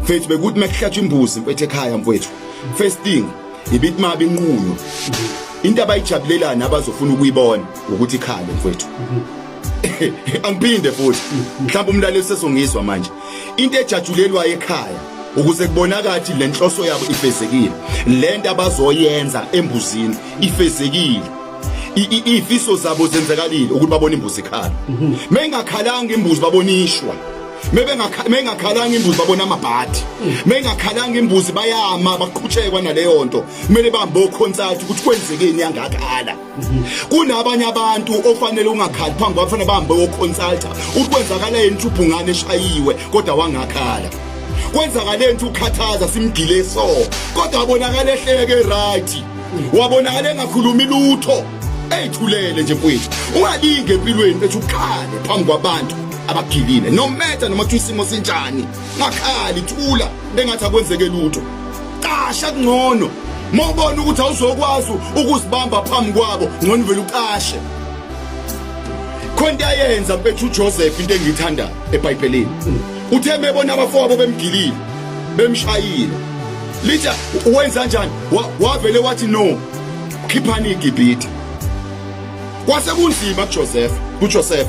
mfethu bekuthi makuhlatshwa imbuzi mfethu ekhaya mfethu first thing ibithi mabi inquyo into abayijabulelani abazofuna ukuyibona ukuthi ikhale mfethu angiphinde futhi mhlawumbe umlaleli sesongizwa manje into ejatshulelwayo ekhaya ukuze kubonakathi le nhloso yabo ifezekile le nto abazoyenza embuzini ifezekile ifiso zabo zenzakalile ukuthi babone imbuzi ikhala mengakhalanga imbuzi babonishwa meyingakhalanga imbuzi babona amabhadi meyingakhalanga imbuzi bayama baqhutshekwa naleyo nto kumele bahambe okhonsathi ukuthi kwenzekeni yangakhala kunabanye abantu ofanele ungakhali phambi kwafanele bahambe okhonsaltha ukuthi kwenzakala yeni ukuthi ubhungane eshayiwe kodwa wangakhala kwenzakale nto ukhathaza simgile so kodwa wabonakala ehleke right wabonakala engakhulumi lutho eyithulele nje mfowethu ungalinge empilweni ethi ukhale phambi kwabantu abagilile no matter noma isimo sinjani ngakhali thula bengathi akwenzeke lutho qasha kungcono mawubona ukuthi awuzokwazi ukuzibamba phambi kwabo ngcono vele uqashe khonto ayenza mfethu uJoseph into engiyithanda eBhayibhelini uthe mebona abafowabo bemgilile bemshayile litha wenza kanjani wavele wathi no khiphani igibhithe kwase kunzima kuJoseph kuJoseph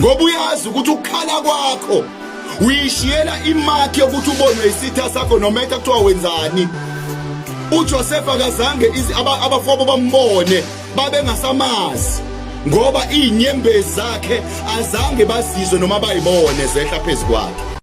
ngoba uyazi ukuthi ukukhala kwakho uyishiyela imakhi yokuthi ubonwe isitha sakho noma etha kuthiwa wenzani uJoseph akazange abafowabo bambone babengasamazi ngoba izinyembezi zakhe azange bazizwe noma bayibone zehla phezu kwakhe